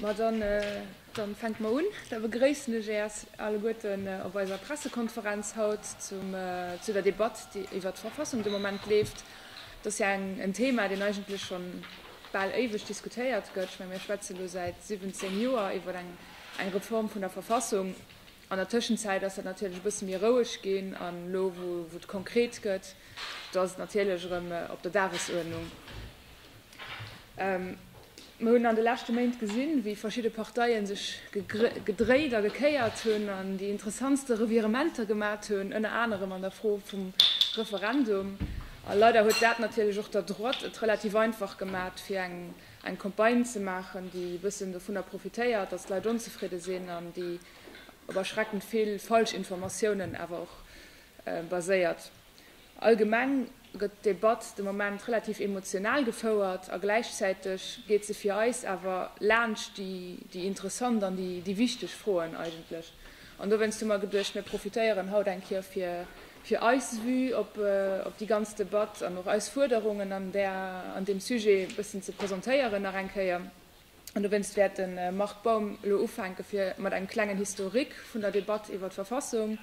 Ma dann, dann fänke mer un. Da begréissen ech äers alleguerten op eiser Pressekonferenz haut zum, zu der Debatt, déi iwwert d'Verfassung de Moment leeft. Et ass jo eng, en Thema, deen eigentlech schonn bal éiweg diskutéiert gëtt. Ech menge mir schwätze lo säit 17 Joer iwwert eng, eng Reform vun der Verfassung. An der Tëschenzäit ass dat natierlech e bësse méi roueg ginn. An elo, wou, wou et konkret gëtt, do ass et natierlech erëm op der Dagesuerdnung. Mer hunn an de leschte Méint gesinn, wéi verschidde Parteien sech gedréit a gekéiert hunn an déi interessantste Revirementer gemat hunn, ënner anerem an der Fro vum Referendum. A leider huet dat natierlech och der Droite et relativ einfach gemat, fir eng Campagne ze maachen, déi e bëssen dovunner profitéiert, datt d'Leit onzefridde sinn an déi op erschreckend vill Falschinformatiounen awer och baséiert. Allgemeng gëtt d'Debatt de Moment relativ emotional gefouert a gläichzäiteg geet se fir eis awer laanscht déi déi interessant an déi déi wichteg Froen eigentlech. An dowéinst hu mer geduecht, mir profitéieren haut eng Kéier fir fir eis Vue op op déi ganz Debatt an och eis Fuerderungen an där an deem Sujet e bëssen ze presentéieren nach eng Kéier. An dowéinst wäert de Marc Baum elo ufänke fir mat engem klengen Historique vun der Debatt iwwer d'Verfassung,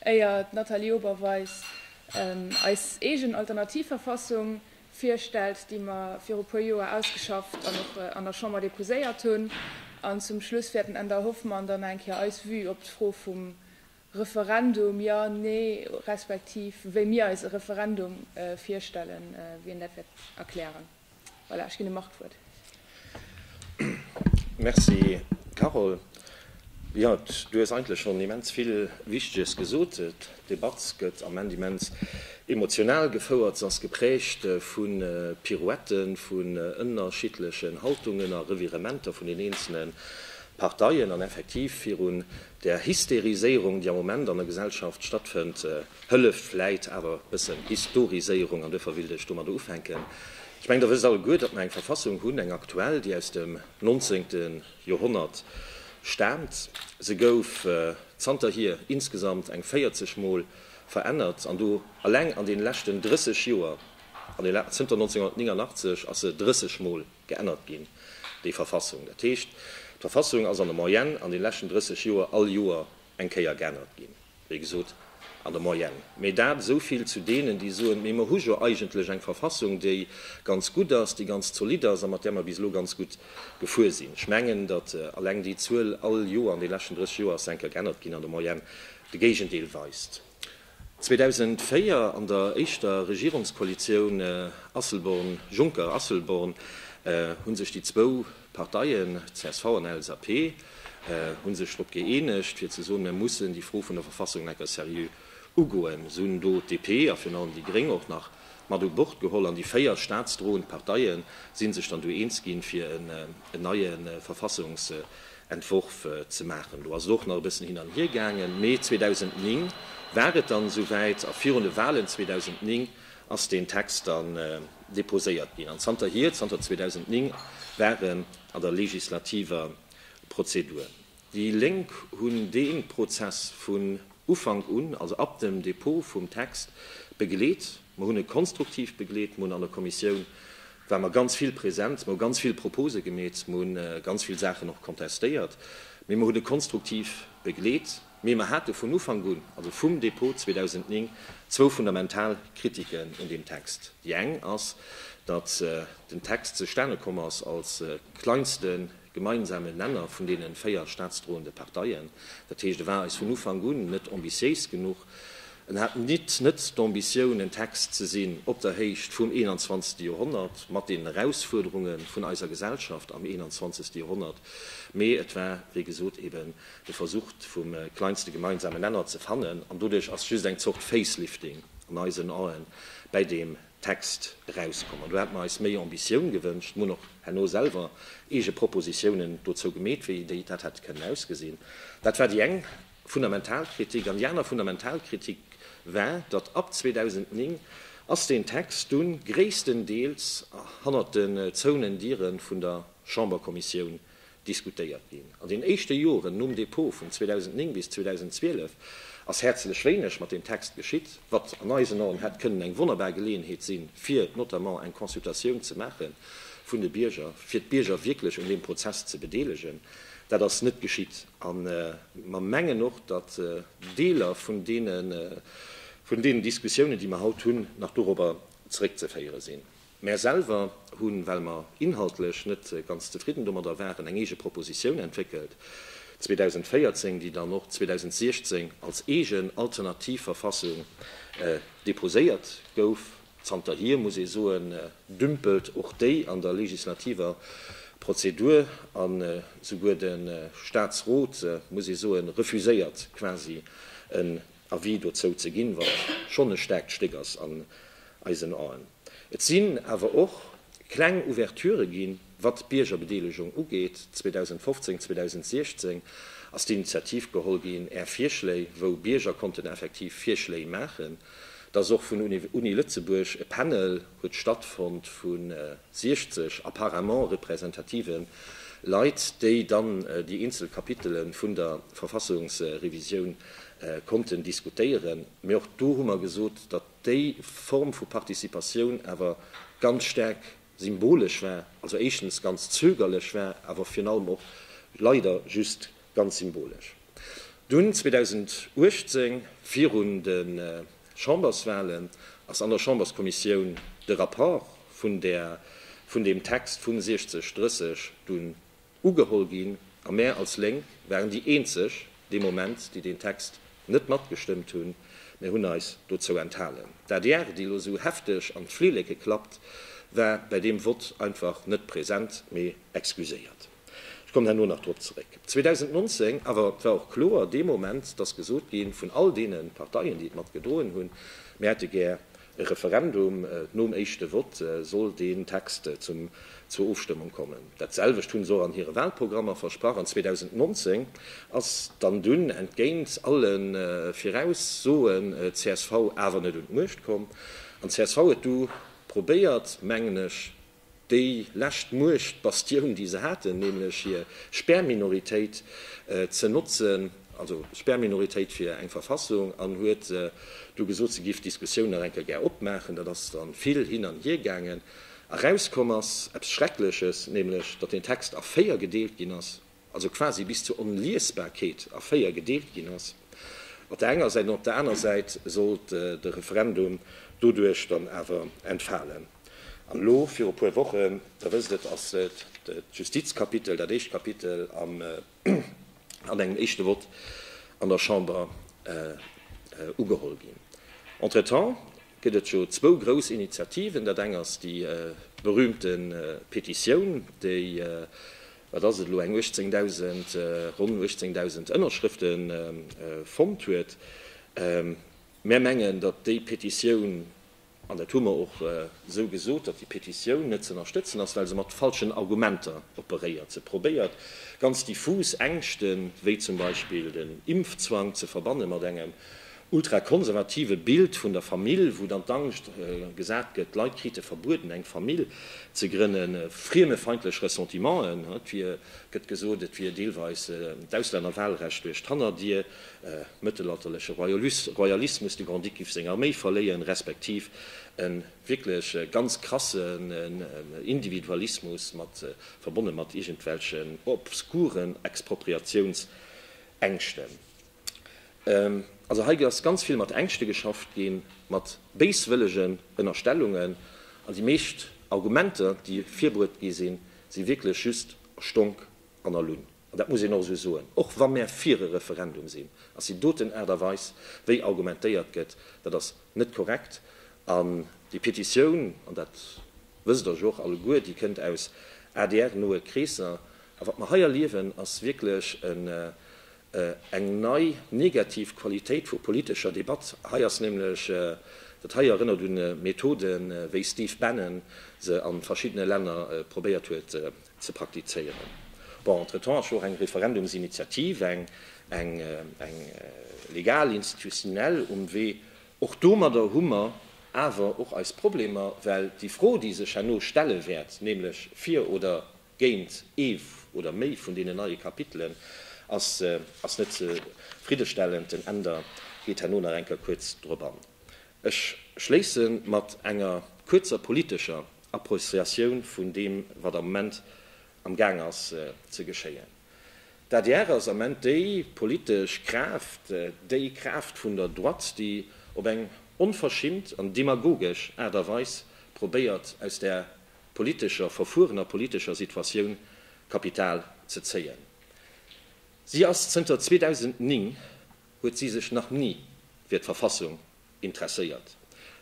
éier d'Nathalie Oberweis eis eegen Alternativverfassung virstellt, déi mer viru puer Joer ausgeschafft an och an der Chamber déposéiert hunn. An zum Schluss wäert den Änder Hoffmann dann eng Kéier eis Vue op d'Fro vum Referendum, ja, nee, respektiv wéi mir eis e Referendum virstellen, wéi en dat wäert erklären. Voilà, ech ginn dem Marc d'Wuert. Merci, Carole. Jo, du hues eigentlech schonn immens vill Wichteges gesot. D'Debatt gëtt am Ament immens emotional gefouert. Se ass geprägt vu Pirouetten, vun ënnerschiddlechen Haltungen a Revirementer vun den eenzele Parteien an effektiv virun Der Hysteriséierung, déi am Moment an der Gesellschaft stattfënnt, hëlleft vläit awer e bëssen Historiséierung. An duerfir wéilt ech domadder ufänken. Ech mengen, Der wësst alleguer, datt mer eng Verfassung hunn, eng aktuell, déi aus dem nonzéngte Joerhonnert staamt. Se gouf zanterhier insgesamt eng 40 Mol verännert, an do eleng an deene leschten 30 Joer, zënter 1989 ass se 30 Mol geännert ginn, déi Verfassung. Dat heescht, d'Verfassung ass an der Moyenne an de leschten 30 Joer all Joer eng Kéier geännert ginn, wéi gesot an der Moyenne. Mee dat esou vill zu deenen, déi soen, mee mer hu jo eigentlech eng Verfassung, déi ganz gutt ass, déi ganz zolidd ass a mat där mer bis elo ganz gutt gefuer sinn. Ech mengen, datt alleng déi Zuel all Joer an de leschten 30 Joer ass se eng Kéier geännert ginn, an der Moyenne de Géigendeel weist. 2004, an der éischter Regierungskoalitioun Asselborn-Juncker-Asselborn, hu sech déi zwou Parteien, csv an LSAP, hu sech drop gëeenegt, fir ze soen, Mir mussen déi Fro vun der Verfassung necker seriö ugoen. Se hunn do d'DP a virun allem déi Gréng och nach mat u Bord geholl. An déi véier staatsdroend Parteie si sech dann do eens ginn, fir en neie Verfassungsentwurf Entworf ze maachen. Do ass et och nach e bëssen hin an hier gaangen, mee 2009 war et dann esouwäit a virun de Walen 2009 ass deen Text dann deposéiert ginn an zanterhier, zanter 2009, war en an der legislativer Prozedur. Déi Lénk hunn dee Prozess vun Ufank un, also ab dem Dépôt vum Text, begleet. Mer hunn e konstruktiv begleet. Mer hunn an der Kommissioun, ware mer ganz vill present. Mer hu ganz vill Propose gemeet. Mer hu ganz vill Saachen och kontestéiert. Mee mer hunn e konstruktiv begleet. Mee mer hate vun Ufank un, also vum Dépôt 2009, zwou fundamental Kritiken un deem Text. Déi eng ass, datt den Text zustane komm ass als kleinste gemeinsamen Nenner vun deenen véier staatsdrohende Parteien. Dat heescht, e war eis vun Ufank un net ambitiéis genuch. En hat nit net d'Ambitioun, en Text ze sinn op der Héicht vum 21. Joerhonnert, mat den Erausfuerderunge vun eiser Gesellschaft am 21. Joerhonnert, mee et war, wéi gesot, eben de Versuch, vum kleinste gemeinsamen Nenner ze fannen. An doduerch ass just eng Zort Facelifting an eisen Aen bäi deem Text erauskommen. Do hätte mer eis méi Ambitioun gewënscht. Mer hunn och herno selwer eege Propositiounen dozou gemeet, wéi déi dat hätt kënnen ausgesinn. Dat war déi eng fundamental Kritik. An déi aner fundamental Kritik war, datt ab 2009 ass deen Text dunn gréisstendeels hannert den zouenen Diere vun der Chamberkommissioun diskutéiert ginn. An den éischte Joren nom Dépôt vun 2009 bis 2012 ass häerzlech wéineg mat deem Text geschitt, wat an eisen Aen hätt kënnen eng wonnerbar Geleeënheet sinn, fir notamment eng Consultatioun ze maache vun de Bierger, fir d'Bierger wierklech un deem Prozess ze bedeelegen. Dat ass net geschitt a mer mengen och, datt Deeler vun deenen Diskussiounen, déi mer haut hunn, nach dorobber zeréckzeféiere sinn. Mär selwer hunn, well mer inhaltlech net ganz zefridden domadder waren, eng eege Propositioun entwéckelt 2014, déi dann och 2016 als eegen alternativ Verfassung deposéiert gouf. Zanterhier, muss ee soen, dümpelt och déi an der legislativer Prozedur a souguer de Staatsrot, muss ee soen, refuséiert quasi en Avis dozou ze ginn, wat schonn e staarkt Stéck ass an eisen Aen. Et sinn awer och kleng Ouverturë ginn, wat d'Biergerbedeelegung ugeet. 2015, 2016 ass d'Initiativ geholl ginn, Är Virschléi, wou Bierger konnten effektiv Virschléi maachen. Da ass och vun Uni Lëtzebuerg e Panel huet stattfonnt vu 60 apparemment representative Leit, déi dann déi eenzel Kapitele vun der Verfassungsrevisioun konnten diskutéieren. Mee och do hu mer gesot, datt déi Form vu Participatioun awer ganz staark symbolesch war, also éischtens ganz zögerlech war, awer virun allem och leider just ganz symbolesch. Dunn 2018 virun de Chamberswahlen ass an der Chamberskommissioun de Rapport vun deem Text vu 60, 30 dunn Ugeholl ginn, a mär als Lénk waren déi eenzeg dee Moment, déi deen Text net matgestëmmt hunn, mär hunn eis dozou enthalen. D'adr, déi elo esou hefteg an d'Flilleke klappt, war bäi deem Vott einfach net present, mee excuséiert. Ech kommen herno nach drop zeréck. 2019 awer, et war och kloer dee Moment, dass gesot gi vun all deene Parteien, déi et mat gedroen hunn, mär hätte gär E Referendum, nom éischte Vott soll deen Text zum zur Ofstëmmung kommen. Dat selwecht hunn se och an hire Wahlprogrammer versprach. An 2019 ass dann dunn, entgéint alle Viraussoen, csv awer net un d'Muecht komm. An csv huet du probéiert, mengen ech, déi lescht Muechtbastioun déi se haten, nämlech hir Sperrminoritéit ze notzen, also Sperrminoritéit fir eng Verfassung, an huet du gesot se géif d'Diskussioun nach eng Kéier gär opmaachen. Dat ass dann vill hin an hier gaangen. Erauskomm ass eppes Schreckleches, nämlech datt den Text a véier gedeelt ginn ass. also quasi bis zur Onliesbarkeet a véier gedeelt ginn ass, op der enger Säit an op der aner Säit sollt de Referendum doduerch dann awer entfalen. An elo viru puer Wochen, Der wësst et, ass d'Justizkapitel, dat éischt Kapitel, an engem éischte Vott an der Chamber ugeholl ginn. Entretemps gëtt et jo zwou grouss Initiativen, dat eng ass déi berühmte Petitioun, déi wat ass et elo, eng 18.000, ronn 18.000 Ënnerschrëfte fonnt huet. Mär mengen, datt déi Petitioun, an dat hu mer och esou gesot, datt déi Petitioun net z'ënnerstëtzen ass, well se mat falschen Argumenter operéiert. Se probéiert, ganz diffus Ängschten, wéi zum Beispill den Impfzwang, ze verbanne mat engem ultrakonservative Bild vun der Famill, wou dann d'Angscht gesat gëtt, d'Leit krite verbueden, eng Famill ze grënnen, friemefeindlech Ressentimenten, et wier, gëtt gesot, et wier deelweis d'Auslännerwahlrecht duerch d'Hannerdier, mëttelalterleche Royalismus, de Grand-Duc giff seng Arméi verléieren, respektiv e wierklech ganz krassen Individualismus mat verbonne mat iergendwelchen obskuren Expropriatiounsängschten. Also hei ass ganz vill mat Ängschte geschafft ginn, mat béiswëllegen Ënnerstellungen. An déi meescht Argumenter, déi virbruet gi sinn, si wierklech just a Stonk an a Lunn. An dat muss een och esou soen, och wa mär fir e Referendum sinn, ass déi doten Aart a Weis, wéi argumentéiert gëtt, dat ass net korrekt. An déi Petitioun, an dat wësst Der jo och alleguer, déi kënnt aus ADR-noe Kreesser. A wat mer hei erliewen, ass wierklech eng nei negativ Qualitéit vu politescher Debatt. Hei ass nämlech, dat hei erënnert un Methoden, wéi Steve Bannon se a verschiddene Länner probéiert huet ze praktizéieren. Bon, entretemps ass jo och eng Referendumsinitiativ, eng legal, institutionell um Wee. Och domadder hu mer awer och eis Problemer, well déi Fro, déi sech herno stelle wäert, nämlech fir oder géint ee oder méi vun deenen neie Kapitelen ass net zefriddestellend. Den Änder geet herno nach eng Kéier kuerz drop an. Ech schléisse mat enger kuerzer politescher Appreciatioun vun deem, wat am Moment am Gaang ass ze geschéien. D'adr ass am Moment déi politesch Kraaft, déi Kraaft vun der Droite, déi op eng onverschimmt an demagogesch Aart a Weis probéiert, aus där politescher Verfueren a politescher Situatioun Kapital ze zéien. Si ass zënter 2009 huet si sech nach ni fir d'Verfassung interesséiert.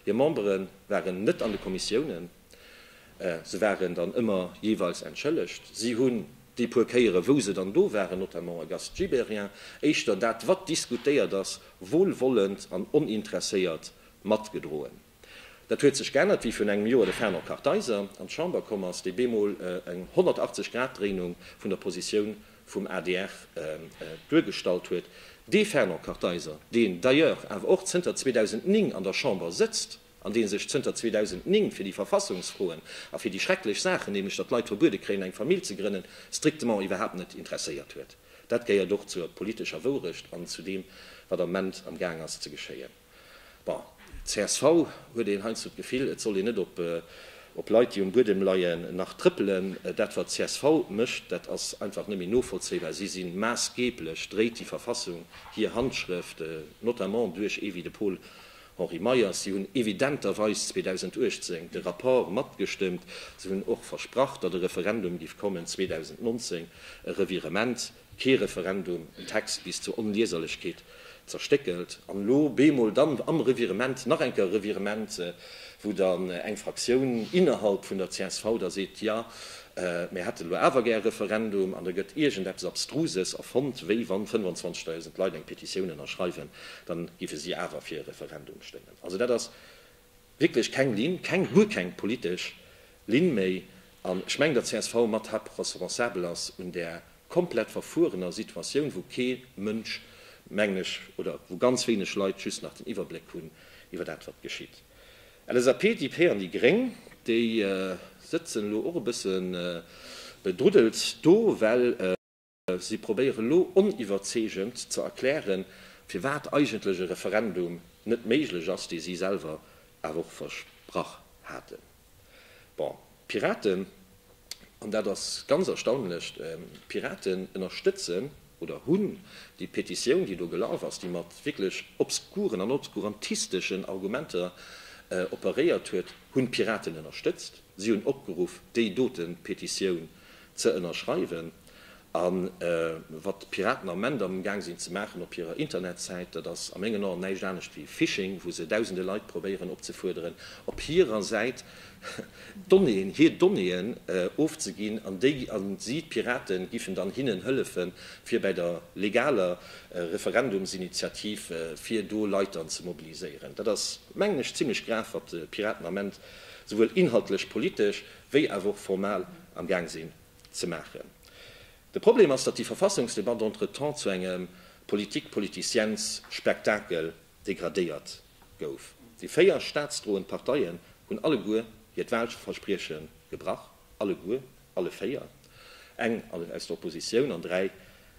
Hir Membere waren net an de Kommissiounen, se waren dann ëmmer jeeweils entschëllegt. Si hunn déi puer Kéiere wou se dann do waren, notamment Auguste Gibéryen, éischter dat wat diskutéiert ass, wohlwollend an oninteresséiert matgedroen. Dat huet sech geännert, wéi virun engem Joer de Fernand Kartheiser an d'Chamber komm ass, dee bemol eng 180 Grad Dréinung vun der Positioun vum adr duergestallt huet. Dee Fernand Kartheiser, deen d'ailleurs awer och zënter 2009 an der Chamber sëtzt an dee sech zënter 2009 fir déi Verfassungsfroen a fir déi schrecklech Saachen, nämlech datt d'Leit verbuede kréien eng Famill ze grënnen, strictement iwwerhaapt net interesséiert huet. Dat gehéiert och zur politescher Wourecht an zu deem, wat am Moment am Gaang ass ze geschéien. Bon, csv huet een heiansdo d'Gefill, et soll een net op Leit, déi um Buedem leien, nach trëppelen. Dat, wat csv mécht, dat ass einfach net méi novollzéibar. Si si maassgeeblech, dréit déi Verfassung hir Handschrëft, notamment duerch ee wéi de Paul-Henri Meyers. Si hunn evidenterweis 2018 de Rapport matgestëmmt. Si hunn och versprach, datt e Referendum géif kommen 2019, e Revirement. Kee Referendum, en Text bis zur Onlieserlechkeet zerstéckelt, an lo beemol dann am Revirement nach eng Kéier e Revirement, wou dann eng Fraktioun innerhalb vun der csv da seet, jo, mir hätte lo awer gär e Referendum, an da gëtt iergendeppes Abstruses erfonnt, wéi wann 25.000 Leit eng Petitioun ënnerschreiwen, dann géife si awer fir e Referendum stëmmen. Also dat ass Wierklech keng Linn, keng, guer keng politesch Linn méi. An ech mengen, datt csv mat hap responsabel ass un där komplett verfuerener Situatioun, wou kee Mënsch, mengen ech, oder wou ganz wéineg Leit just nach den Iwwerbléck hunn iwwer dat, wat geschitt. LSAP, DP an déi Gréng, déi sëtzen elo och e bësse bedruddelt do, well. Si probéiere elo oniwwerzeegend ze erklären, firwat eigentlech e Referendum net méiglech ass, dee si selwer awer och versprach haten. Bon, d'Piraten, an dat ass ganz erstaunlech, d'Piraten ënnerstëtzen oder hunn déi Petitioun, déi do gelaf ass, déi mat wierklech obskuren an obskurantisteschen Argumenter operéiert huet, hunn d'Piraten ënnerstëtzt. Si hunn opgeruff, déi dote Petitioun ze ënnerschreiwen. A wat d'Piraten am Ment am Gaang sinn ze maachen op hirer Internetsäit, dat ass a mengen Aen näischt anescht wéi Phishing, wou se dausende Leit probéieren opzefuerderen, op hirer Säit d'Donnéeën, hir Donnéeën ofzeginn. An déi, a si, d'Pirate giffen dann hinnen hëllefen, fir bäi der legaler Referendumsinitiativ, fir do Leit dann ze mobiliséieren. Dat ass, mengen ech, zimlech grav, wat d'Piraten am Ment souwuel inhaltlech, politesch wéi awer och formal am Gaang sinn ze maachen. De Problem ass, datt déi Verfassungsdebatt entretemps zu engem Politik-politiciens-Spektakel degradéiert gouf. Déi véier staatsdroend Parteien hunn alleguer hiert Wahlversprieche gebrach, alleguer, alle véier, eng aus der Oppositioun an dräi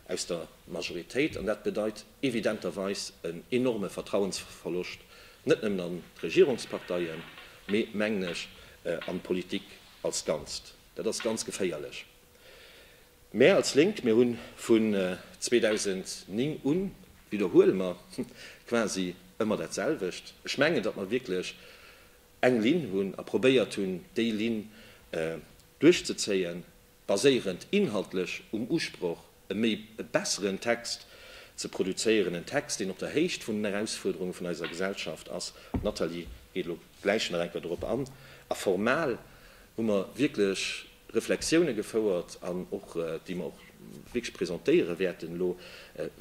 aus der Majoritéit, an dat bedeit, evidenterweis en enorme Vertrauensverloscht, net nëmmen an d'Regierungsparteien, mee, mengen ech, an d'Politik als Ganzt. Dat ass ganz geféierlech. Mär als Lénk, mir hu vun 2009 un, widderhuele mer quasi ëmmer dat selwecht. Ech mengen, datt mer wierklech eng Linn hunn a probéiert hunn, déi Linn duerchzezéien. baséierend inhaltlech um Usproch, e méi e besseren Text ze produzéieren, en Text, deen op der Héicht vun den Erausfuerderunge vun eiser Gesellschaft ass. D'Nathalie geet elo gläich nach eng Kéier dorop an. A formal hu mer wierklech Reflexioune gefouert, an och, déi mer och wierklech presentéiere wäerten elo,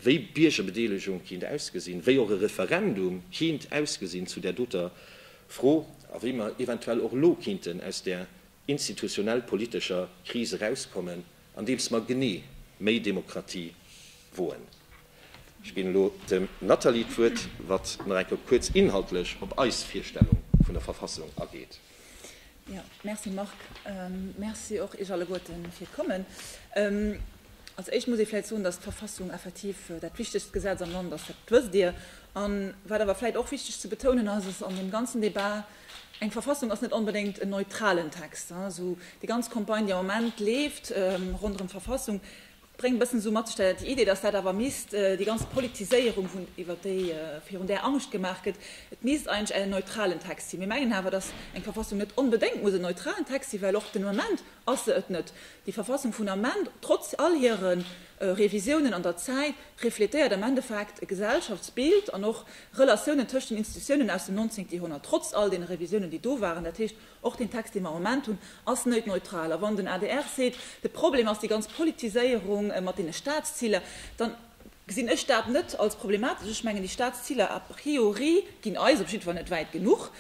wéi Biergerbedeelegung kéint ausgesinn, wéi och e Referendum kéint ausgesinn zu där doter Fro a wéi mer eventuell och elo kéinten aus där institutionell politescher Kris erauskommen, andeems mer genee méi Demokratie woen. Ech ginn elo dem Nathalie d'Wuert, wat nach eng Kéier kuerz inhaltlech op eis Virstellung vun der Verfassung ageet. Jo, merci Marc. Merci och Iech alleguerte fir d'Kommen. Als Éischt muss ee vläicht soen, dass d'Verfassung effektiv dat wichtegst Gesetz am Land ass, dat wësst Dir. A wat awer vläicht och wichteg ze betounen ass, ass an deem ganzen Débat, Eng Verfassung ass net onbedéngt en neutralen Text. Esou déi ganz Campagne, déi am Moment leeft ronderëm d'Verfassung, bréngt e bëssen esou mat sech déi Idee, datt dat awer misst, déi ganz Politiséierung, vun iwwer déi virun där Angscht gemaach gëtt, et misst eigentlech en neutralen Text sinn. Mir mengen awer, datt eng Verfassung net onbedéngt muss en neutralen Text sinn, well och den Ament ass se et net. Déi Verfassung vun Ament, trotz all hire Revisiounen an der Zäit, refletéiert am Endeffekt e Gesellschaftsbild an och Relatiounen tëscht den Institutiounen aus dem 19. Joerhonnert, trotz all deene Revisiounen, déi do waren, dat heescht, och deen Text, dee mer am Moment hunn, ass net neutral. A wann den adr seet, de Problem ass déi ganz Politiséierung mat deene Statsziler, da gesinn ech dat net als problematesch. Ech mengen, déi Statsziler a priori ginn eis op jiddwer Fall net wäit genuch.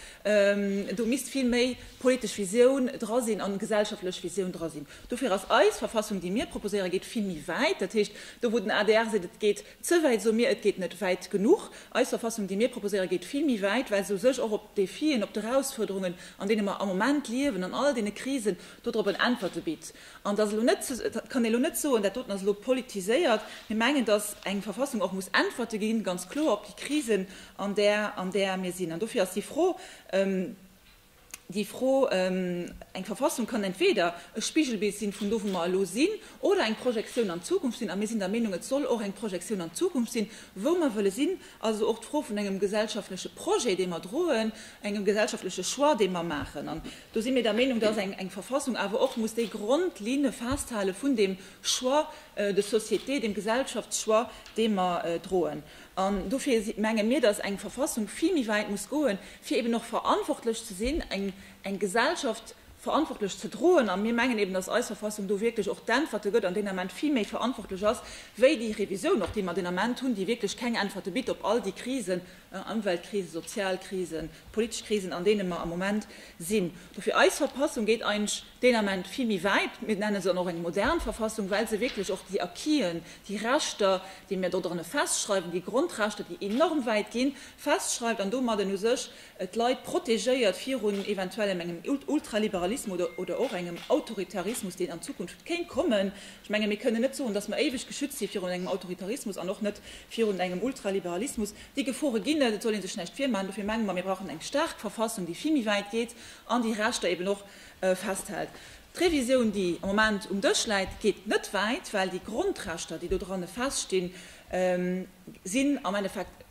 Do misst vill méi politesch Visioun dra sinn a gesellschaftlech Visioun dra sinn. Dofir ass eis Verfassung, déi mir proposéieren, geet vill méi wäit. Dat heescht, do wou den adr seet, et geet Ze wäit, soe mir. Et geet net wäit genuch. Eis Verfassung, déi mir proposéieren, geet vill méi wäit, well se u sech och op d'Defien, op d'Erausfuerderungen, an deene mer am Moment liewen, an all deene Krisen do drop en Äntwerte bitt. An et ass elo net, dat kann ee elo net soen, dat doten ass elo politiséiert. Mir mengen, dass eng Verfassung och muss Äntwerte ginn, ganz kloer, op déi Krisen, an där, an där mir sinn. An dofir ass déi Fro, déi Fro, Eng Verfassung kann entweeder e Spigelbild sinn vun do wou mer elo sinn, oder eng Projektioun an d'Zukunft sinn, a mir sinn der Meenung et soll och eng Projektioun an d'Zukunft sinn, wou mer wëlle sinn, also och d'Fro vun engem gesellschaftleche Projet dee mer droen, engem gesellschaftleche Choix dee mer maachen. An do si mir der Meenung, datt eng Verfassung awer och muss déi Grondlinne festhale vun deem Choix de société, deem Gesellschaftschoix dee mer droen. An dofir menge mir, dass eng Verfassung vill méi wäit muss goen, fir eben och verantwortlech ze sinn, eng Gesellschaft verantwortlech ze droen. A mir mengen eben, dass eis Verfassung do wierklech och d'Äntwerte gëtt an deen Ament vill méi verantwortlech ass wéi déi Revisioun och, déi mer deen Ament hunn, déi wierklech keng Äntwerte bitt op all déi Krisen, Ëmweltkrisen, Sozialkrisen, politesch Krisen, an deene mer am Moment sinn. Dofir, eis Verpassung gétt eigentlech deen Ament vill méi wäit, mir nenne se dann och eng modern Verfassung, well se wierklech och déi Acquisen, déi Rechter, déi mir do dranne festschreiwen, déi Grondrechter, déi enorm wäit ginn, festschreift an domadden u sech d'Leit protegéiert virun eventuellem engem Ultraliberalismus oder oder och engem Autoritarismus, deen an Zukunft kéint kommen. Ech menge mir kënnen net soen, dass mer éiweg geschützt si virun engem Autoritarismus an och net virun engem Ultraliberalismus. Déi Gefore ginn et, et soll ee sech näischt virmachen. Dofir menge mer, mir brauchen eng staark Verfassung, déi vill méi wäit geet an déi Rechter eeben och festhält. D'Revisioun, déi am Moment um Dësch läit, geet net wäit, well déi Grondrechter, déi do dran feststinn, sinn am Endeffekt,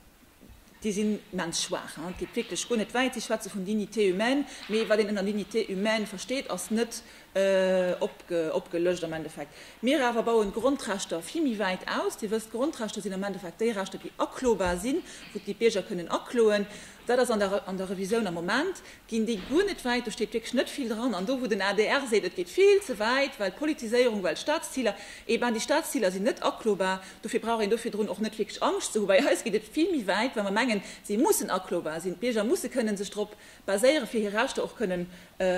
déi sinn immens schwaach. Et geet wierklech guer net wäit. Si schwätze vun dignité humaine, mee wat een ënner dignité humaine versteet, ass net opgelëscht am Endeffekt. Mir awer bauen d'Grondrechter vill méi wäit aus. Dir wësst, d'Grondrechter sinn am Endeffekt déi Rechter, déi aklobar sinn, wou d'Bierger kënnen akloen. Dat ass an der Revisioun am Moment ginn déi guer net wäit, do steet wierklech net vill dran. An do wou den adr seet, et geet vill ze wäit, well Politiséierung, well Staatsziler, eh ben déi Staatsziler sinn net aklobar, dofir brauch een do virdrun och net wierklech Angscht ze hu. Bei eis geet et vill méi wäit, well mer mengen, se mussen aklobar sinn. D'Bierger musse kënnen sech drop baséieren, fir hir Rechter och kënnen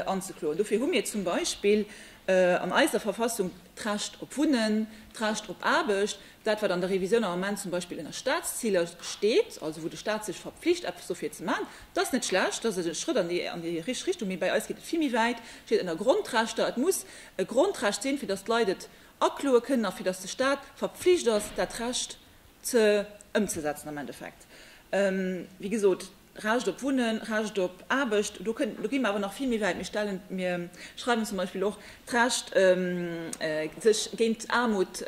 anzekloen. Dofir hu mir zum Beispill an eiser Verfassung d'Recht op Wunnen, d'Recht op Aarbecht. Dat, wat an der Revisioun am Ament zum Beispill ënner Statsziler steet, also wou de Stat sech verpflicht, eppes dofir ze maachen, dat ass net schlecht, dat ass e Schrëtt an déi richteg Richtung. Mee bei eis geet et vill méi wäit, et steet ënner Grondrechter. Et muss e Grondrecht sinn, fir datt d'Leit et akloe kënnen a fir datt de Stat verpflicht ass, dat Recht ëmzesetzen am Endeffekt. Wéi gesot. Recht op Wunnen, Recht op Aarbecht, do gi mir awer nach vill méi wäit. Mir schreiwen zum Beispill och d'Recht, sech géint Aarmut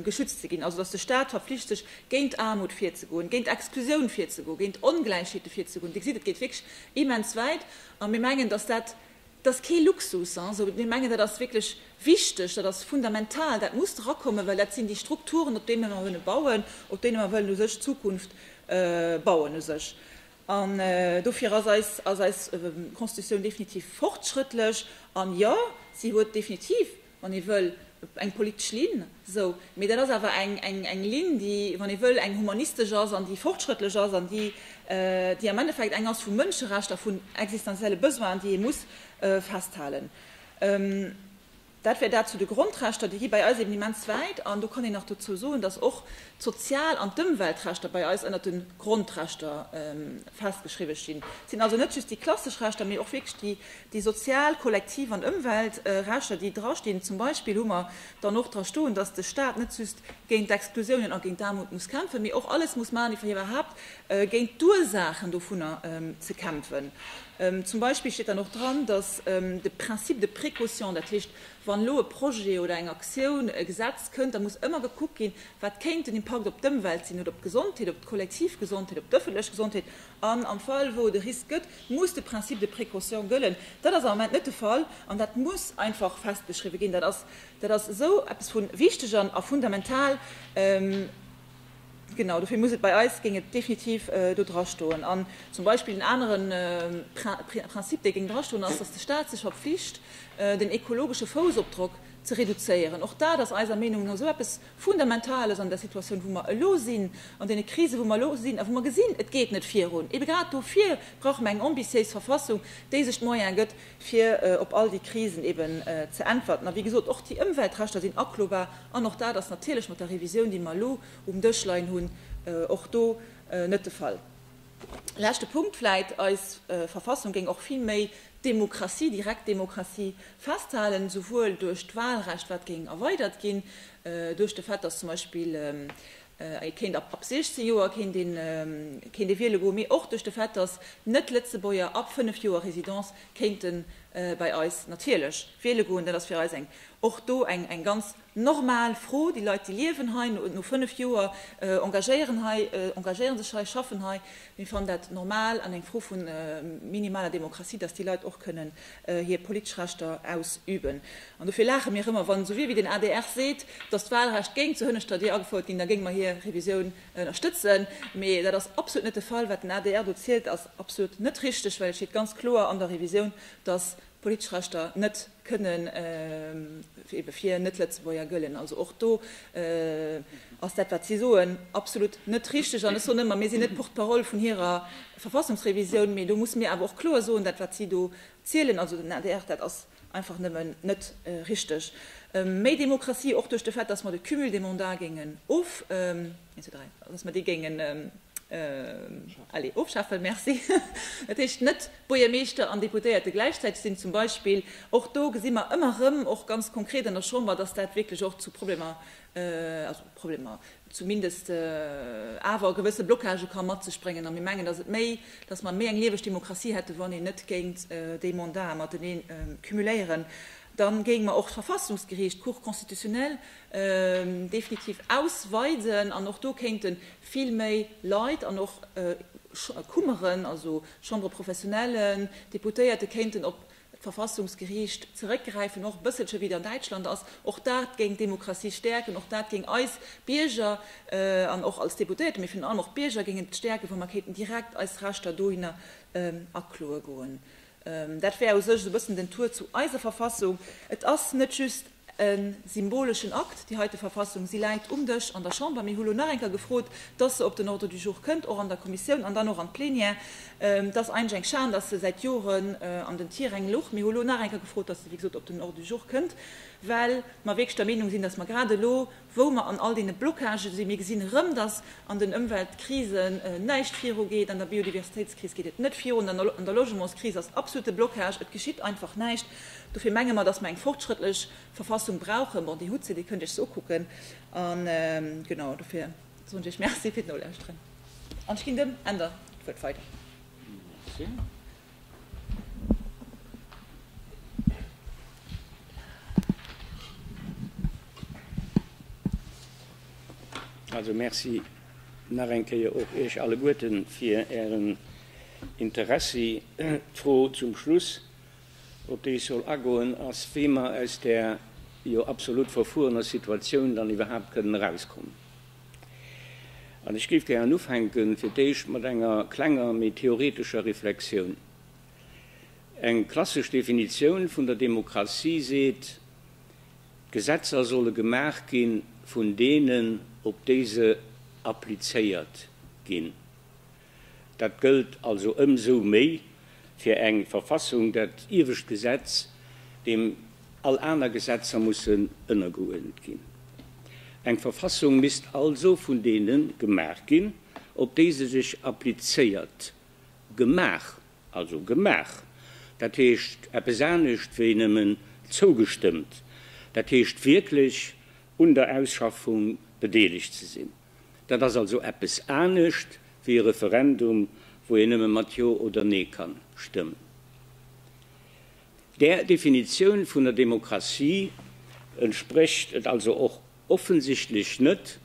geschützt ze ginn, also datt de Stat verflicht sech, géint Aarmut virzegoen, géint Exklusioun virzegoen, géint Ongläichheete virzegoen. Dir gesitt, et geet wierklech immens wäit. A mir mengen, datt dat Et ass kee Luxus, esou mir mengen, dat ass wierklech wichteg, dat ass fundamental, dat muss erakommen, well dat sinn déi Strukturen, op deene mer wëllen bauen, op deene mer wëllen u sech d'Zukunft bauen u sech. An dofir ass eis ass eis Constitutioun definitiv fortschrëttlech. An jo, si huet definitiv wann ee wëll, eng politesch Linn, esou, mee dat ass awer eng Linn, déi, wann ee wëll, eng humanistesch ass an déi fortschrëttlech ass an déi am Endeffekt eng ass vu Mënscherechter, vun existenzielle Besoinen, déi ee muss festhalen. Dat wär dat zu de Grondrechter. Déi gi bei eis eben immens wäit. An do kann een nach dozou soen, dass och d'Sozial an d'Ëmweltrechter bei eis ënnert de Grondrechter festgeschriwwen stinn. Et sinn also net just déi klassesch Rechter, mee och wierklech déi Déi sozial, kollektiv an Ëmwelt rechter, déi drastinn. Zum Beispill hu mer dann och dra stoen, dass de Stat net just géint d'Exklusiounen a géint d'Aarmut muss kämpfen, mee och alles muss maachen, fir iwwerhaupt géint d'Ursaachen dovunner ze kämpfen. Zum Beispill steet dann och dran, dass de Principe de précaution, dat heescht, wann elo e Projet oder eng Aktioun, e Gesetz kënnt, da muss ëmmer gekuckt ginn, wat kéint den Impakt op d'Ëmwelt sinn oder op d'Gesondheet, op d'kollektiv Gesondheet, op d'ëffentlech Gesondheet An am Fall wou et e Risk gëtt, muss de Principe de précaution gëllen. Dat ass am Moment net de Fall an dat muss einfach festgeschriwwen ginn. Dat ass, dat ass esou eppes vu wichteg a fundamental. Genau dofir muss et bei eis, géing et definitiv do drastoen. An zum Beispill en anere Principe, dee géing drastoen, ass, dass de Stat sech verpflicht, den ekologesche Foussopdrock ze reduzéieren. Och dat ass eiser Meenung no esou eppes, Fundamentales an der Situatioun, wou mer elo sinn, an deene Krisen, wou mer elo sinn a wou mer gesinn, et geet net virun. Ebe grad dofir brauche mer eng ambitiéis Verfassung, déi sech d'Moyene gëtt, fir op all déi Krisen eben ze äntwerten. A wéi gesot, och déi Ëmweltrechter sinn aklobar an och dat ass natierlech mat der Revisioun, déi mer elo um Dësch leien hunn, och do net de Fall. Leschte Punkt vläit, Eis Verfassung géing och vill méi d'Demokratie, direkt Demokratie festhalen, esouwuel duerch d'Wahlrecht, wat géing erweidert ginn, duerch de Fait, datt zum Beispill ee kéint ab 16 Joer kéint ee wiele goen, mee och duerch de Fait, datt Net-Lëtzebuerger ab 5 Joer Résidence kéinte bei eis natierlech wiele goen. Dat ass fir eis eng och do eng ganz. Normal Fro, déi Leit, déi liewen hei, no fënnf Joer engagéieren hei, engagéieren sech hei, schaffen hei, mir fannen dat normal an eng Fro vu minimaler Demokratie, dass déi Leit och kënnen hir politesch Rechter ausüben. An dofir laache mir ëmmer, wann esou wie wéi den adr seet, dass d'Wahlrecht géing zur hënneschter Dier agefouert ginn, da géinge mer hir Revisioun ënnerstëtzen. Mee dat ass absolut net de Fall. Wat den adr do zielt, ass absolut net richteg, well et steet ganz kloer an der Revisioun, dass politesch Rechter net, kënnen ebe fir Net-Lëtzebuerger gëllen. Also och do ass dat, wat si soen, absolut net richteg. An ech soen ëmmer, mir sinn net Porte-parole vun hirer Verfassungsrevisioun, mee do musse mir awer och kloer soen, dat, wat si do zielen, also den adr, dat ass einfach nëmmen net richteg. Méi Demokratie, och duerch de Fait, dass mer de Cumul des mandats géingen of, dass mer déi géingen ofschafen. Merci. Dat heescht, net Buergermeeschter an Deputéierte gläichzäiteg sinn zum Beispill. Och do gesi mer ëmmer erëm, och ganz konkret an der Chamber, dass dat wierklech och zu Problemer, also Problemer, zumindest awer gewësse Blockagë ka mat sech bréngen. A mir mengen, dass et méi, dass mer méi eng lieweg Demokratie hätten, wann een net géint déi Mandaten matenee cumuléieren. Da géinge mer och d'Verfassungsgeriicht, d'Cour constitutionnelle, definitiv ausweiden an och do kéinte vill méi Leit an och Kummeren, also Chambre professionnelle, Deputéierte kéinten op d'Verfassungsgeriicht zeréckgräifen, och e bësselche wéi et an Däitschland ass. Och dat géing d'Demokratie stäerken, och dat géing eis Bierger an och als Deputéierte, mee virun allem och d'Bierger géingen et stäerken, wa mer kéinten direkt eis Rechter dohinner akloe goen. Dat wär u sech esou e bëssen den Tour zu eiser Verfassung. Et ass net just e symboleschen Akt, déi heite Verfassung. Si läit um Dësch an der Chamber. Mir hu lo nach eng Kéier gefrot, dass se op den Ordre du jour kënnt, och an der Kommissioun an dann och an d'Plenière. Et ass eigentlech eng Schan, dass se säit Joren an den Tiräng luch. Mir hu lo nach eng Kéier gefrot, dass se wéi gesot op den Ordre du jour kënnt, well mer wierklech der Meenung sinn, dass mer grad elo, wou mer an all deene Blocagen sinn. Mir gesinn erëm, dass an den Ëmweltkrisen näischt viru geet, an der Biodiversitéitskris geet et net virun, an der Logementskris ass et absolute Blocage, et geschitt einfach näischt. Dofir menge mer, dass mer eng fortschrëttlech Verfassung brauchen. Bon, déi hutt se, déi kënnt Dir Iech se ukucken. A genau dofir soen ech Iech Merci fir d'Nolauschteren an ech ginn dem Änder d'Wuert weider. Merci. Also merci nach eng Kéier och Iech alleguerten fir Ären Interessi. D'Fro zum Schluss, op déi ech soll agoen, ass, wéi mer aus där jo absolut verfuerener Situatioun dann iwwerhaapt kënnen erauskommen. An ech géif gären ufänken, fir d'éischt mat enger klenger, méi theoretescher Reflexioun. Eng klassesch Definitioun vun der Demokratie seet, D'Gesetzer solle gemaach gi vun deenen, op déi se applizéiert ginn. Dat gëllt also ëmsou méi fir eng Verfassung, dat iewescht Gesetz, deem all aner Gesetzer mussen ënnergeuerdent ginn. Eng Verfassung misst also vun deene gemaach ginn, op déi se sech applizéiert, gemaach, also gemaach, dat heescht eppes anescht wéi nëmmen zougestëmmt, dat heescht wierklech un der Ausschaffung bedeelegt ze sinn. Dat ass also eppes anescht wéi e Referendum, wou een nëmme mat Jo oder Nee kann stëmmen. Där Definitioun vun der Demokratie entsprécht et also och offensichtlech net,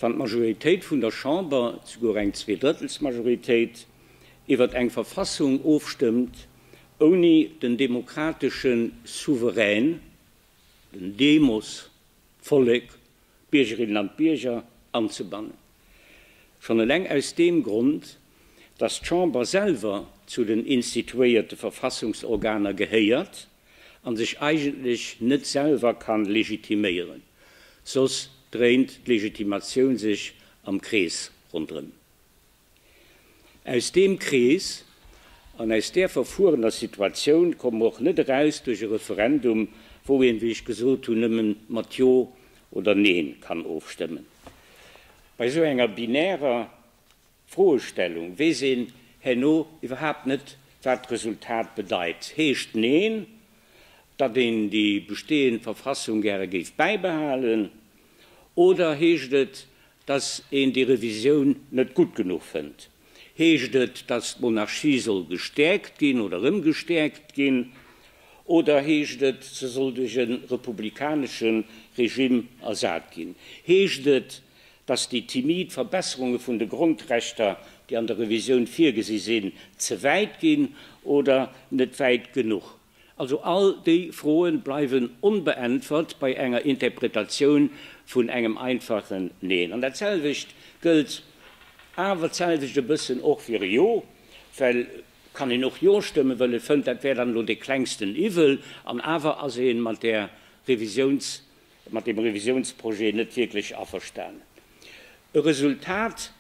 wann d'Majoritéit vun der Chamber, souguer eng Zweedrëttelsmajoritéit, iwwert eng Verfassung ofstëmmt, ouni den demokratesche Souverän, den Demos, d'Vollek, d'Biergerinnen an d'Bierger anzebannen. Schonn eleng aus deem Grond, dass d'Chamber selwer zu den instituéierte Verfassungsorganer gehéiert a sech eigentlech net selwer ka legitiméieren, soss dréint d'Legitimatioun sech am Krees ronderëm. Aus deem Krees an aus där verfuerener Situatioun komme mer och net eraus duerch e Referendum, wou een, wéi ech gesot hunn, nëmme mat Jo oder Neen kann ofstëmmen. Bei esou enger binärer Froestellung weess een herno iwwerhaapt net, wat d'Resultat bedeit. Heescht Neen, datt een déi bestehend Verfassung gäre géif bäibehalen, oder heescht et, Datt een déi Revisioun net gutt genuch fënnt, heescht et, datt d'Monarchie soll gestäerkt ginn oder rëm gestäerkt ginn, oder heescht et, se soll duerch e republikanesche Regime ersat ginn? Heescht et, datt déi timid Verbesserunge vun de Grondrechter, déi an der Revisioun virgesi sinn, ze wäit ginn oder net wäit genuch Also all déi Froen bleiwen onbeäntwert bei enger Interpretatioun vun engem einfachen Neen. An datselwecht gëllt awer d'selwecht e bëssen och fir e Jo, well kann een och Jo stëmmen, well e fënnt, dat wär dann elo dee klengsten Iwwel. An awer ass ee mat där Revisiouns, mat deem Revisiounsprojet net wierklech averstanen. E Resultat,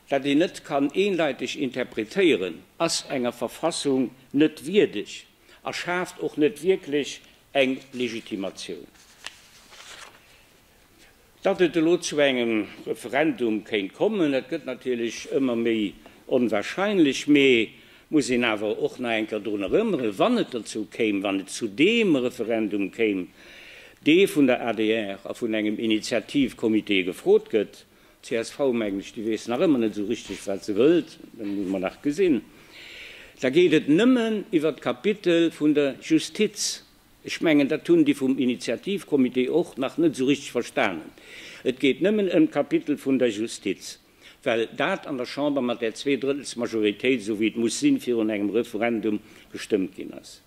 dat een net kann eendeiteg interpretéieren, ass enger Verfassung net wierdeg a schaaft och net wierklech eng Legitimatioun. Datt et elo zu engem Referendum kéint kommen, dat gëtt natierlech ëmmer méi onwarscheinlech, mee muss een awer och nach eng Kéier drun erënneren, wann et dozou kéim, wann et zu deem Referendum kéim, dee vun der adr a vun engem Initiativcomité gefrot gëtt, d'CSV, mengen ech, déi weess nach ëmmer net esou richteg, wat se wëllt, dat muss mer nach gesinn, da geet et nëmmen iwwert d'Kapitel vun der Justiz. Ech mengen, dat hunn déi vum Initiativcomité och nach net esou richteg verstanen. Et geet nëmmen ëm d'Kapitel vun der Justiz. well dat an der Chamber mat där Zweedrëttelsmajoritéit, esou wéi et muss sinn, virun engem Referendum gestëmmt ginn ass.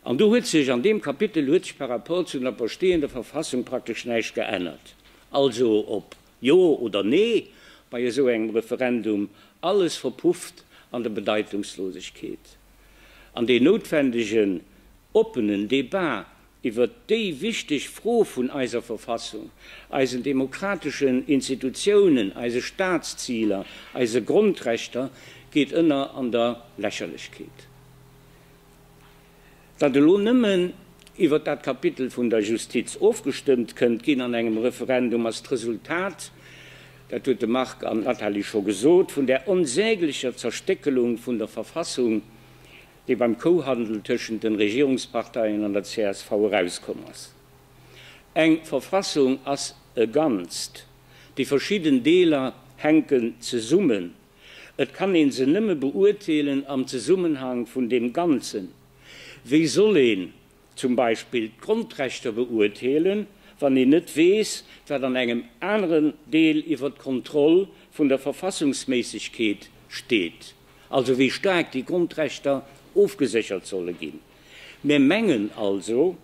An do huet sech an deem Kapitel huet sech par rapport zu der bestehender Verfassung praktesch näischt geännert. Also ob Jo oder Nee bei esou engem Referendum, alles verpufft an der Bedeitungslosegkeet. An deen noutwendegen oppenen Débat, iwwer déi wichteg Fro vun eiser Verfassung, eisen demokrateschen Institutiounen, eise Staatsziler, eise Grondrechter geet ënner an der Lächerlechkeet. Datt elo nëmmen iwwer dat Kapitel vun der Justiz ofgestëmmt kënnt ginn an engem Referendum, ass d'Resultat, dat huet de Marc an d'Nathalie scho gesot, vun där onsäglecher Zerstéckelung vun der Verfassung, dee beim Kouhandel tëschent de Regierungsparteien an der csv erauskomm ass. Eng Verfassung ass e Ganzt, déi verschidden Deeler hänken zesummen. Et kann ee se nëmme beurteelen am Zesummenhang vun deem Ganzen. Wéi soll een zum Beispill d'Grondrechter beurteelen, wann een net weess, wat an engem aneren Deel iwwer d'Kontroll vun der Verfassungsméissegkeet steet, also wéi staark déi Grondrechter ofgeséchert solle ginn. Mir mengen also,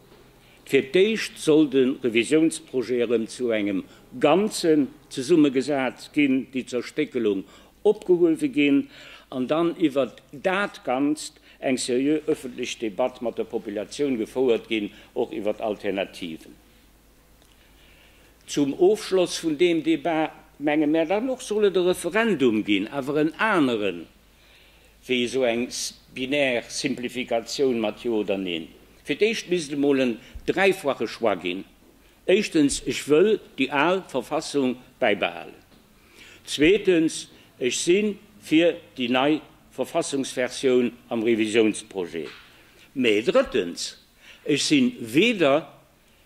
fir d'éischt soll de Revisiounsprojet erëm zu engem Ganzen zesummegesat ginn, déi Zerstéckelung opgehuewe ginn an dann iwwert dat Ganzt eng seriö öffentlech Debatt mat der Populatioun gefouert ginn, och iwwert Alternativen. Zum Ofschloss vun deem Debat menge mär dann och, soll et e Referendum ginn, awer en aneren wéi esou eng binär Simplifikatioun mat Jo oder Neen. Fir d'éischt misst et emol en dräifache Choix ginn, éischtens, ech wëll déi al Verfassung bäibehalen, Zweetens, ech si fir déi nei Verfassungsversioun am Revisiounsprojet. Mä drëttens, ech si weder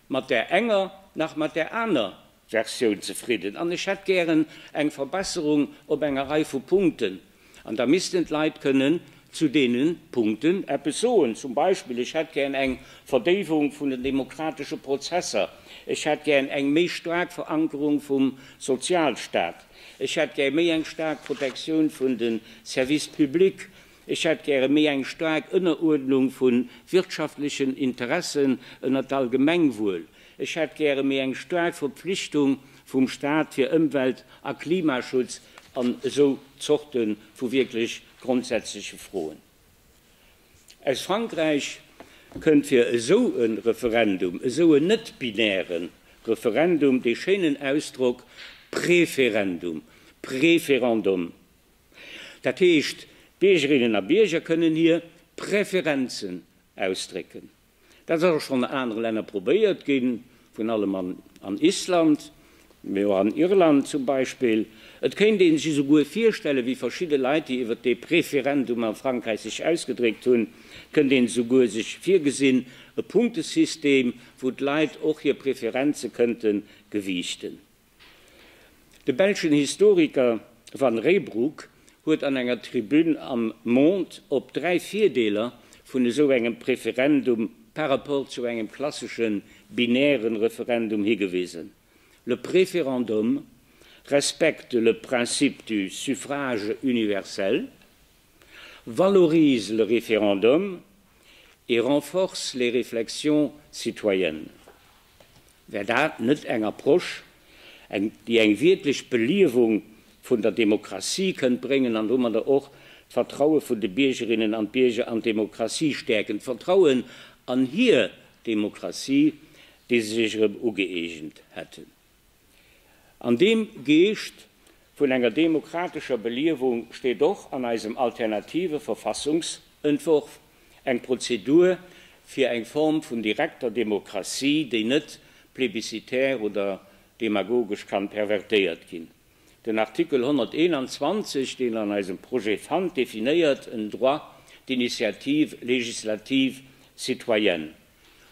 mat där enger nach mat där aner Versioun zefridden an ech hätt gären eng Verbesserung op enger Rei vu Punkten, An da missten d'Leit kënnen zu deene Punkten eppes soen, zum Beispill, Ech hätt gären eng Verdéiwung vun den demokratesche Prozesser, ech hätt gären eng méi staark Verankerung vum Sozialstaat, ech hätt gäre méi eng staark Protektioun vun de Services publics, ech hätt gäre méi eng staark Ënneruerdnung vu wirtschaftlechen Interessen ënnert d'Allgemengwuel. Ech hätt gäre méi eng staark Verpflichtung vum Stat fir Ëmwelt a Klimaschutz an esou Zorte vu wierklech grondsätzleche Froen. Aus Frankräich kënnt fir esou e Referendum, esou en net-binäre Referendum, dee schéinen Ausdrock Preferendum, Préférendum. Dat heescht, d'Biergerinnen a Bierger kënnen hir Preferenzen ausdrécken. Dat ass och schonn a anere Länner probéiert ginn, virun allem an Island, mee och an Irland zum Beispill. Et kéint ee sech esouguer virstellen, wéi verschidde Leit, déi iwwert dee Preferendum a Frankräich sech ausgedréckt hunn, kënnt een esouguer sech virgesinn, e Punktesystem, wou d'Leit och hir Preferenze kënnte gewiichten. De belschen Historiker Van Reybrouck huet an enger Tribün am Monde op dräi Virdeeler vun esou engem Preferendum par rapport zu engem klassesche binäre Referendum higewisen, Le préférendum respecte le principe du suffrage universel. valorise le référendum et renforce les réflexions citoyennes, wär dat net eng Approche, déi eng wierklech Beliewung vun der Demokratie kënnt bréngen an domadder och d'Vertraue vun de Biergerinnen an d'Bierger an d'Demokratie stäerken, d'Vertrauen an hir Demokratie, déi se sech erëm ugëeegent hätten? An deem Geescht vun enger demokratescher Beliewung steet och an eisem alternative Verfassungsentwurf eng Prozedur fir eng Form vun direkter Demokratie, déi net plebiscitär oder demagogesch kann pervertéiert ginn. Den Artikel 121, deen an eisem Projet fannt, definéiert en droit d'initiative législative citoyenne.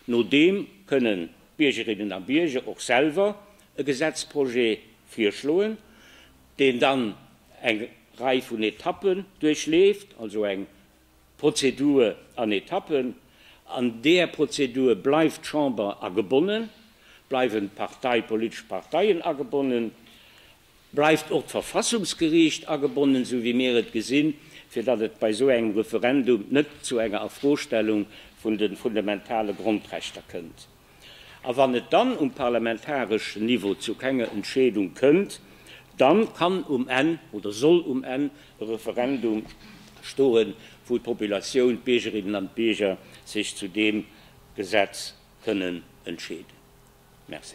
Nodeem kënnen d'Biergerinnen a Bierger och selwer e Gesetzprojet virschloen, deen dann eng Rei vun Etappen duerchleeft, also eng Prozedur an Etappen. An där Prozedur bleift d'Chamber agebonnen, bleiwen d'Partei, d'politesch Parteien agebonnen Bleift och d'Verfassungsgeriicht agebonnen, esou wéi mir et gesinn, fir datt et bei esou engem Referendum net zu enger Afrostellung vun de fundamentale Grondrechter kënnt? A wann et dann um parlamentareschen Niveau zu kenger Entscheedung kënnt, dann kann um Enn oder soll um Enn e Referendum stoen, wou d'Populatioun, d'Biergerinnen an d'Bierger sech zu deem Gesetz kënnen entscheeden. Merci.